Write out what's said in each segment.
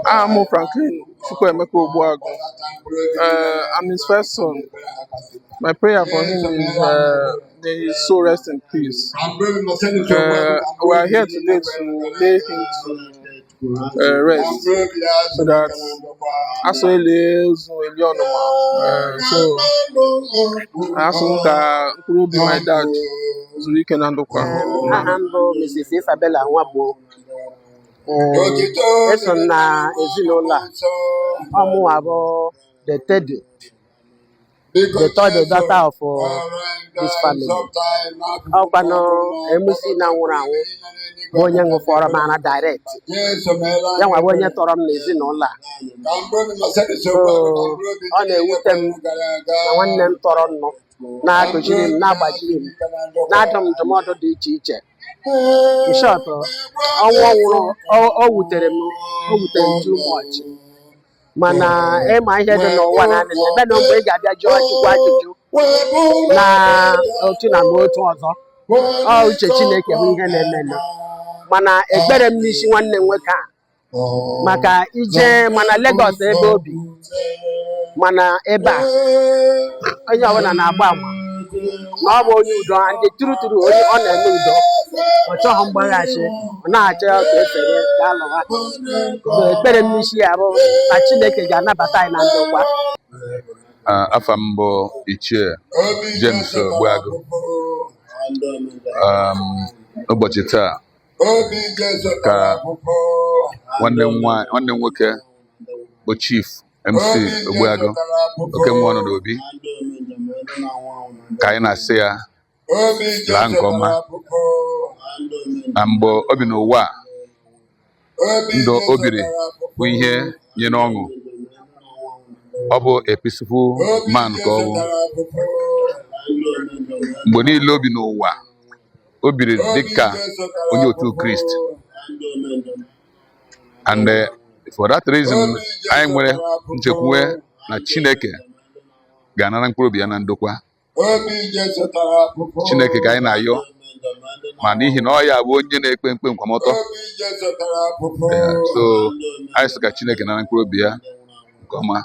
aha m Franklin Chukwuemeka Ogbuagụ uh, I'm his first son my prayer for him is uh, may his soul rest in peace uh, we are here today to lay him to uh, rest so that asị elie ozu elie ọnụma uh, so asị m ka mkpụrụ obi my dad zuru ike na ndokwa aha m bụ Mrs. Isabella Nwagbo Ee, eso m na ezinụlọ a ọ mụnwa bụ the third the third daughter of uh, this family ọ kwanụ MC na nwụrụ anwụ bụ onye ṅụfọrọ m ara direct yanwa bụ onye tọrọ m n'ezinụlọ a so ọ na-ewute m na nwanne m tọrọ m nụ na-akụziri m na-agbaziri m na-adụ m ndụmọdụ dị iche iche in short ọnwụ ọ nwụrụ o- o wutere m o wutere m too much mana ị ma ihe dị n'ụwa na anị ebe na mgbe ị ga-abịa jụọ Chukwu ajụjụ na otu na ma otu ọzọ ọ uche Chineke bụ ihe na-emenụ mana ekpere m n'isi nwanne m nwoke a maka i je ma na Lagos ebe o bi ma na ebe a onye ọbụla na-agba ama na ọ bụ onye udo and true true onye ọ na-eme udo ọ chọghị mgbaghachi ọ na-achọ ya ka efere ka alụ ha So, ekpere m n'isi ya bụ na Chineke ga-anabata anyị na ndokwa Ah, afa m bụ ichie James Ogbuagụ Um, ụbọchị taa ka nwanne m nwoke bụ Chief MC Ogbuagụ oke mmụọ nọ n'obi ka anyị na-asị ya laa nke ọma na mgbe o bi n'ụwa a ndụ o biri bụ ihe nyere ọṅụ ọ bụ a peaceful man ka ọ bụ mgbe niile o bi n'ụwa o biri dịka onye otu Krist and eh, for that reason anyị nwere nchekwuwe na Chineke ga-anara mkpụrụ obi ya na ndokwa Chineke ka anyị na-ayọ ma n'ihi na ọ ya bụ onye na-ekpe ikpe nkwụmọtọ eh, so anyị sị ka Chineke nara mkpụrụ obi ya nke ọma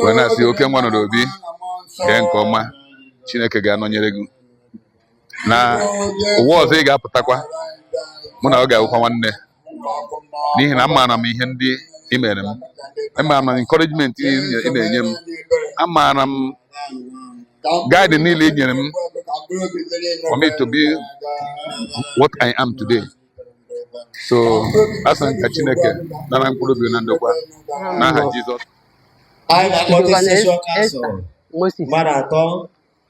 wee na-asị oke nwa nọ n'obi gee nke ọma Chineke ga-anọnyere gị na ụwa ọzọ ị ga-apụtakwa mụ na ọ ga-awụkwa nwanne n'ihi na amaara m ihe ndị ị mere m amaara m encouragement ị na-enye m amaara m guide niile ị nyere m for me to be what I am today so asị m ka Chineke nara mkpụrụ obi na ndokwa n'aha Jizọs Moses mmadụ atọ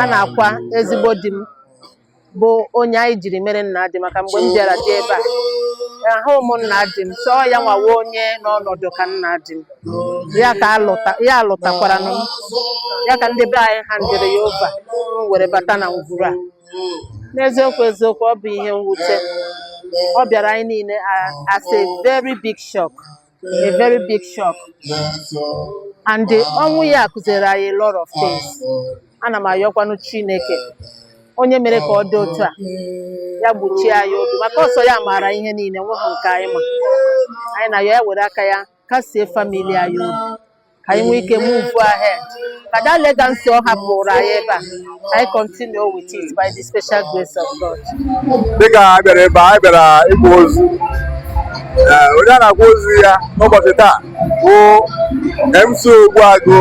a na-akwa ezigbo di m bụ onye anyị jiri mere nna di maka mgbe m bịara di ebe a ahụ m nna di m so ọ ya nwa wụ onye n'ọnọdụ ka nna di m ya ka alụta ya alụtakwara m ya ka ndị be anyị handịrị ya over m were bata na ngwuru a n'eziokwu eziokwu ọ bụ ihe mwute ọ bịara anyị niile a- as a very big shock a very big shock and ọnwụ ya kụziri anyị a lot of things ana m ayọkwanụ Chineke onye mere ka ọ dị otu a ya gbochie anyị obi maka ọ sọ ya maara ihe niile nweghị nke anyị ma anyị na-ayọ ya were aka ya kasie family anyị obi ka anyị nwee ike move ahead ka that legacy ọ hapụrụ anyị ebe a anyị continue with it by the special grace of God. dịka a bịara ebe a bịara ịkwa ozu eh, onye a na-akwa ozu ya n'ụbọchị taa bụ MC Ogbuagu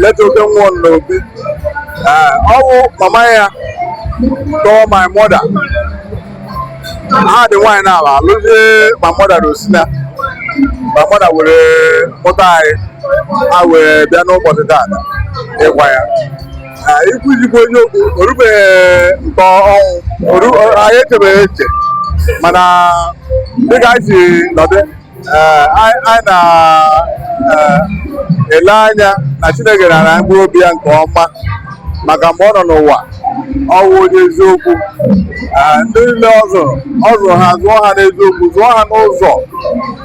late Oke Nwanobi eh, ọ bụ mama ya tọọ my mother ha dị nwaanyị naabọ lụzie ma mmadụ na Osina ma mmadụ were mụta anyị a wee bịa n'ụbọchị taata ịkwa ya ikwu eziokwu onye okwu o rubeghị nke ọnwụ anyị echebeghị eche mana dịka anyị si nọdụ eh, anyị na-ele eh, anya na Chineke na-anara mkpụrụ obi ya nke ọma maka mgbe ọ nọ n'ụwa ọ wụ onye eziokwu eh, ndị niile ọ zụrụ ọ zụrụ ha zụọ ha n'eziokwu zụọ ha n'ụzọ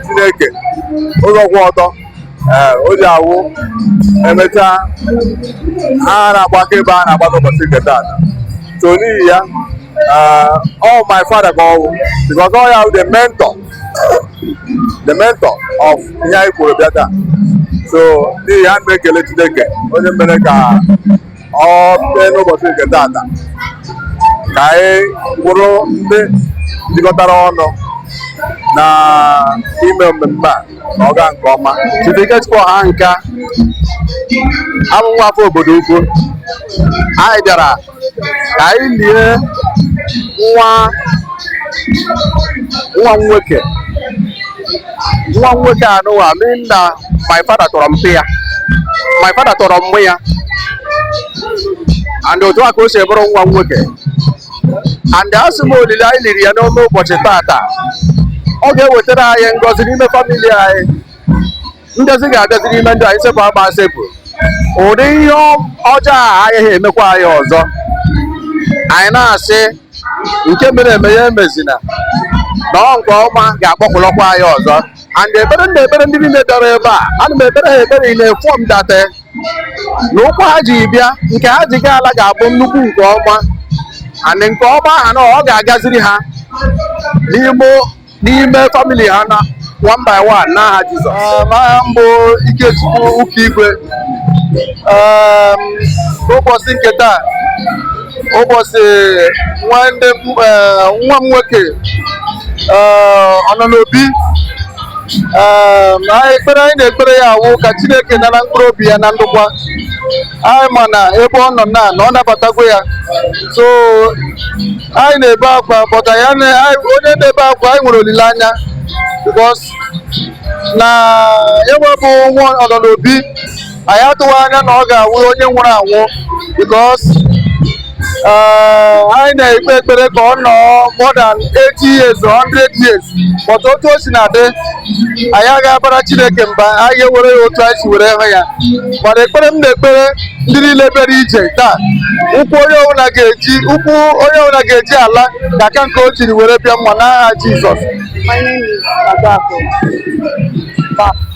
Chineke ụzọ kwụ ọtọ o ji awụ e mechaa ha na-agbakọ ebe a na-agbakọ ụbọchị nke taata so n'ihi ya ọ wụ my father ka ọ wụ because ọ ya wụ the mentor the mentor of ihe anyị kwuru bịa taa so n'ihi ya m na-ekele Chineke onye mere ka ọ bee n'ụbọchị nke taata ka anyị bụrụ ndị jikọtara ọnụ na-eme mmemme a na ọ gaa nke ọma Chief Ikechukwu Ọhanka abụ nwa afọ Obodoukwu anyị bịara ka anyị lie nwa nwa nwoke nwa nwoke anụwa mee na my father tọrọ mpa ya my father tọrọ mpa ya and otu a ka o si bụrụ nwa nwoke and asị m olile anyị liri ya n'ime ụbọchị tata ọ ga-ewetara anyị ngọzi n'ime famili anyị ngọzi ga-abịazi n'ime ndụ anyị sepụ agba sepụ ụdị ihe ọjọọ a agaghị emekwa anyị ọzọ anyị na-asị nke mere eme ya emezina na ọ nke ọma ga-akpọkụlọkwa anyị ọzọ and ekpere m na-ekpere ndị niile bịara ebe a ana m ekpere ha ekpere ị na-efu m date na ụkwụ ha ji bịa nke ha ji gaa ala ga-abụ nnukwu nke ọma and nke ọma ahụ na ọ ga-agaziri ha n'ime n'ime famili ha na one by one n'aha Jizọs um, aha m bụ Ikechukwu Ụkaigwe um, ụbọchị nke taa ụbọchị nwanne m nwoke eh, Ọnọnobi ekpere anyị na-ekpere ya awụ ka Chineke nara mkpụrụ obi ya na ndokwa anyị ma na ebe ọ nọ na na ọ nabatagwo ya so anyị na-ebe akwa but anyị ana- anyị- onye na-ebe akwa anyị nwere olileanya because na onye bụ nwa Ọnọnobi anyị atụghị anya na ọ ga-awụ onye nwụrụ anwụ because Eh, anyị na-ekpe ekpere ka ọ nọ more than 80 years or 100 years but otu o sina dị anyị agaghị abara Chineke mba anyị ga-ewere ya otu anyị si were hụ ya mana ekpere m na-ekpere ndị niile bịara ije taa ụkwụ onye ọbụla ga-eji ụkwụ onye ọbụla ga-eji ala ga-aka nke o jiri were bịa mma n'aha Jizọs My name is Adako.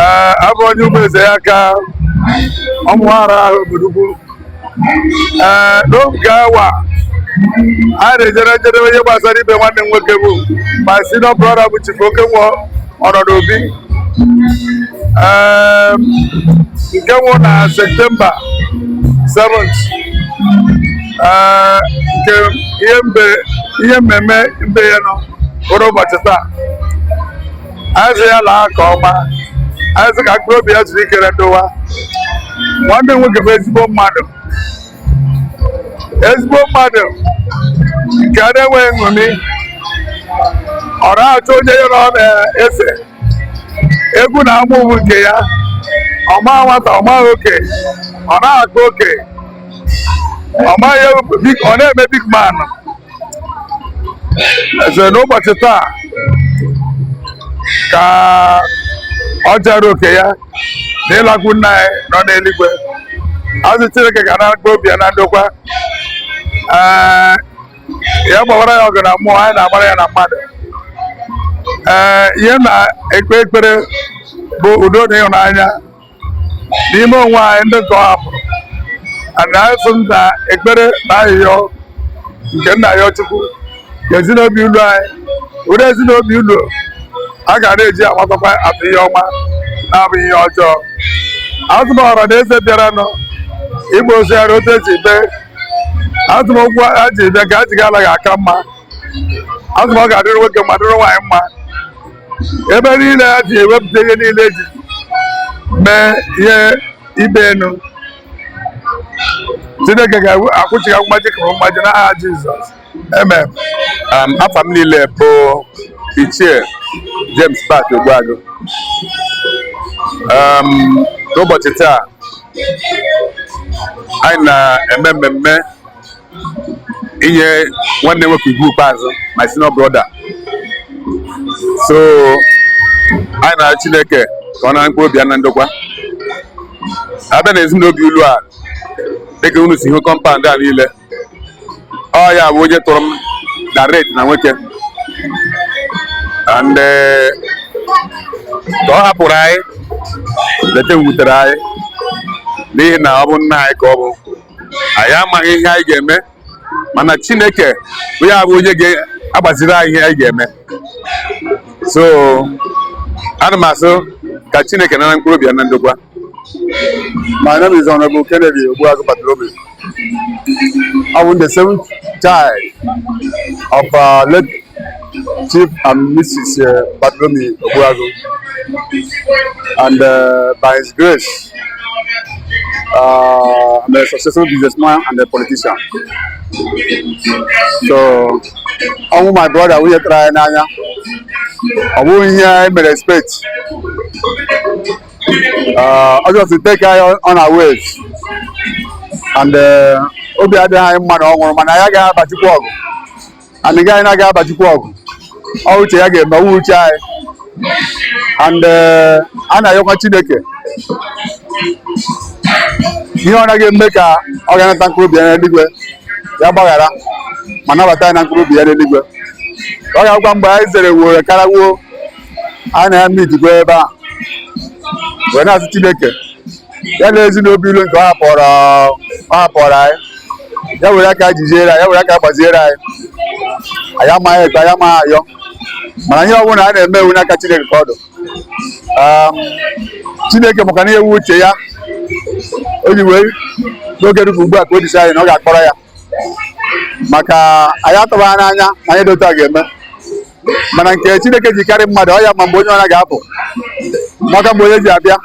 ee abụ m onye Ụmụezeaka Ụmụnwarahụ Obodoukwu ee n'oge awa a na-ejere njedebe ihe gbasara ibe nwanne m nwoke bụ my senior brother bụ chifu Okenwa Ọnọnobi ee nke nwụ na septemba 7th ee nke ihe mbe ihe mmemme mbe ya nọ bụrụ ụbọchị taa anyị sị ya laa nke ọma anyị sị ka mkpụrụ obi ya zuru ike na ndokwa nwanne m nwoke bụ ezigbo mmadụ ezigbo mmadụ nke a na-enweghị enemy ọ naghị achọ onye ya na ọ na-ese okwu na ama ụmụ nke ya ọ ma nwata ọ ma oke ọ naghị akpa oke ọ na-eme big man eze n'ụbọchị taa ka ọ jara oke ya na ịlakwu nna anyị nọ n'eluigwe asị chineke ka naba obi ya na ndokwa ee ya gbawara ya ọgụ na mmụọ anyị na-agbara ya na mmadụ ee ihe na-ekpe ekpere bụ udo na ịhụnanya n'ime onwe anyị ndị nke ọ hapụrụ ana m asị n'ekpere na arịrịọ nke nna ya chukwu ka ezi na obi ụlọ anyị wụrụ ezi na obi ụlọ a ga na-eji amatakwa atụ ihe ọma na-abụ ihe ọjọọ asị m ọra na eze bịaranụ ịgba ozi ya otu eji bịa asị m ụkwụ a ji bịa ka a ji ga-ala ga-aka mma asị m ọ ga-adịrị nwoke mma dịrị nwaanyị mma ebe niile ha ji ewepụta ihe niile eji mee ihe ibe enu Chineke ga-akwụchi ha mmaji ka mmaji n'aha Jizọs amen um, afa m niile bụ ichie James Bat Ogbuagụ um, n'ụbọchị taa anyị na-eme mmemme inye nwanne m nwoke ugwu ikpeazụ my senior brother so anyị na-arịọ Chineke ka ọ nara mkpụrụ obi ya na ndokwa abịa na ezi na obi ụlọ a dịka unu si hụ compound a niile ọ ya bụ onye tọrọ m direct na nwoke and eh, ka ọ hapụrụ anyị leta wutere anyị n'ihi na ọ bụ nna anyị ka ọ bụ anyị amaghị ihe anyị ga-eme mana chineke bụ ya bụ onye ga-agbaziri anyị ihe anyị ga-eme so ana m asị ka chineke nara mkpụrụ obi ya na ndokwa My name is Honorable Kennedy Ogbuagu Bartholomew. I'm the seventh child of uh, late Chief and Mrs. Uh, Bartholomew Ogbuagu. And uh, by His grace, uh, I'm a successful businessman and a politician. So, ọnwụ my brother wụ ihe tụrụ anyị n'anya ọ bụghị ihe anyị mere expect ọ just take anyị unawares and uh, obi adịghị anyị mma na ọ nwụrụ mana anyị agaghị aba Chukwu ọgụ and nke anyị na-aga aba Chukwu ọgụ ọ uche ya ga-eme ọ wụghị uche anyị and eh, anyị na-ayọkwa Chineke ihe ọ na-aga eme ka ọ ga-anata mkpụrụ obi ya n'eluigwe ya gbaghara ma nabata ya na mkpụrụ obi ya n'eluigwe ọ ga-agwa mgbe anyị zere were kara nwụọ anyị na ya meet n'igwe ebe a wee na-asị Chineke ya na ezi na obi ụlọ nke ọ hapụrụ ọ hapụrụ anyị ya were aka jiziere anyị ya were aka gbaziere anyị anyị amaghị ekpe anyị amaghị ayọ mana ihe ọbụla a na-eme wụ n'aka Chineke ka ọ dụ Um, Chineke makwa ihe wụ uche ya o ji wee n'oge dịka ugbu a ka o ji sị anyị na ọ ga-akpọrọ ya maka anyị atụghị anya na ihe dị otu a ga-eme mana nke Chineke ji karị mmadụ ọ ya ma mgbe onye ọbụla ga-apụ makwa mgbe onye ji abịa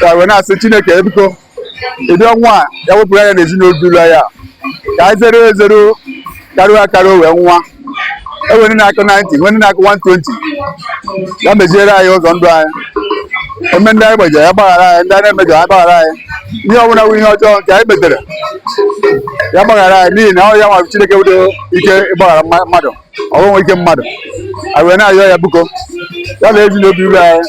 a wee na-asị Chineke biko ụdị ọnwụ a ya wepụrụ anyị ya n'ezinụlọ ya ka anyị zeruo ezeru karuo akaru wee nwa enwere na-akụ 90 nwere na-akụ 120 ya meziere anyị ụzọ ndụ anyị eme ndị anyị gbajere ya gbaghara anyị ndị anyị na-emejọ ya gbaghara anyị ihe ọbụla bụ ihe ọjọọ nke anyị metere ya gbaghara anyị n'ihi na ọ ya nwa Chineke wụdo ike ịgbaghara mmadụ ọgwụnwe ike mmadụ anyị wee na-ayọ ya biko ya na ezi na obi ụlọ anyị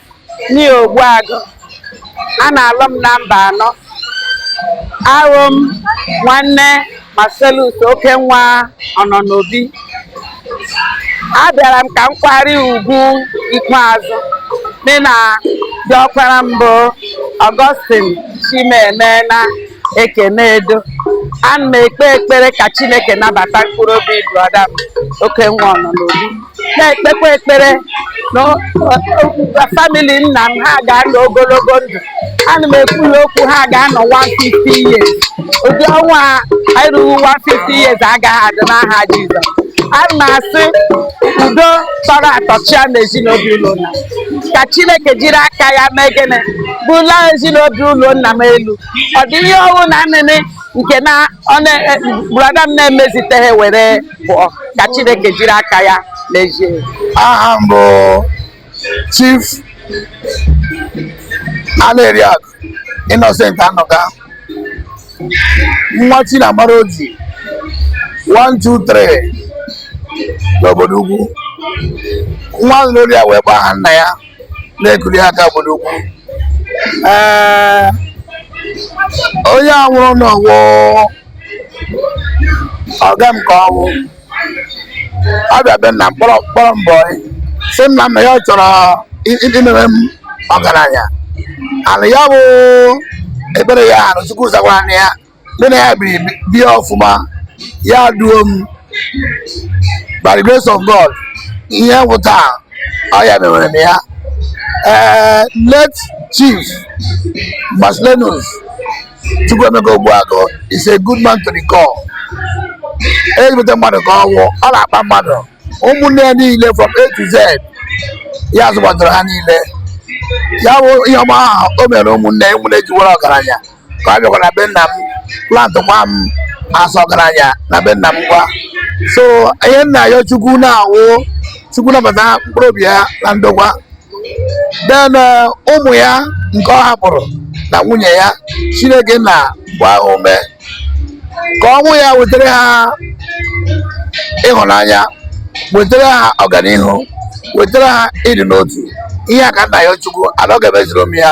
Ni Ogbuagụ a na-alụ m na mba anọ abụ m nwanne Marcellus oke nwa ọnọ n'obi abịara m ka m kwara ya ugwu ikpeazụ mụ na di ọkpara m bụ Augustine Chimeme na Ekene Edo ana m ekpe ekpere ka Chineke nabata mkpụrụ obi brọda m oke nwa ọnọ n'obi na-ekpekwa ekpere na famili nna m ha ga-anọ ogologo ndụ ana m ekwu ya okwu ha ga-anọ 150 years ụdị ọnwụ a erughị 150 years agaghị adị n'aha Jizọs ana m asị udo tọrọ atọ chịa n'ezi na obi ụlọ nna m ka Chineke jiri aka ya mee gịnị bula ezi na obi ụlọ nna m elu ọ dị ihe ọwụna niine nke na brada m na-emeziteghị were pụọ ka Chineke jiri aka ya mezie aha m bụ Chief Aneriakụ Innocent Anọka nwa Chinamara Oji 123 n'obodo ugwu nwa ahụ n'olu ya wee gbaa aha nna ya na-ekuli aka obodo ugwu ee onye a nwụrụ anwụ wụ ọga m ka ọ wụ ọ bịa be nna m kpọrọ m boy sị nna m na ya chọrọ imeme m ọgaranya and ya bụ ekpere ya na chukwu zakwara na ya mụ na ya biri bie ọfụma ya duo m by the grace of God ihe m wụ taa ọ ya mewere m ya ee late chief Marcellinus Chukwuemeka Ogbuagụ is a good man to the core ezigbote mmadụ ka ọ wụ ọ na-akpa mmadụ ụmụnne ya niile from A to Z ya zụgbadoro ha niile ya wụ ihe ọma ahụ o mere ụmụnne ụmụnne ji bara ọgaranya ka ọ bịakwa na be nna m plant gwa m asọ ọgaranya na be nna m ngwa so ihe m na-ayọ chukwu nna wụ chukwu nabata mkpụrụ obi ya na ndokwa then eh, ụmụ ya nke ọ hapụrụ na nwunye ya chineke nna gbaa ha ume ka ọnwụ ya wetara ha ịhụnanya wetara ha ọganihu wetara ha ịdị n'otu ihe a ka m na-ayọ chukwu na ọ ga-emezuru m ya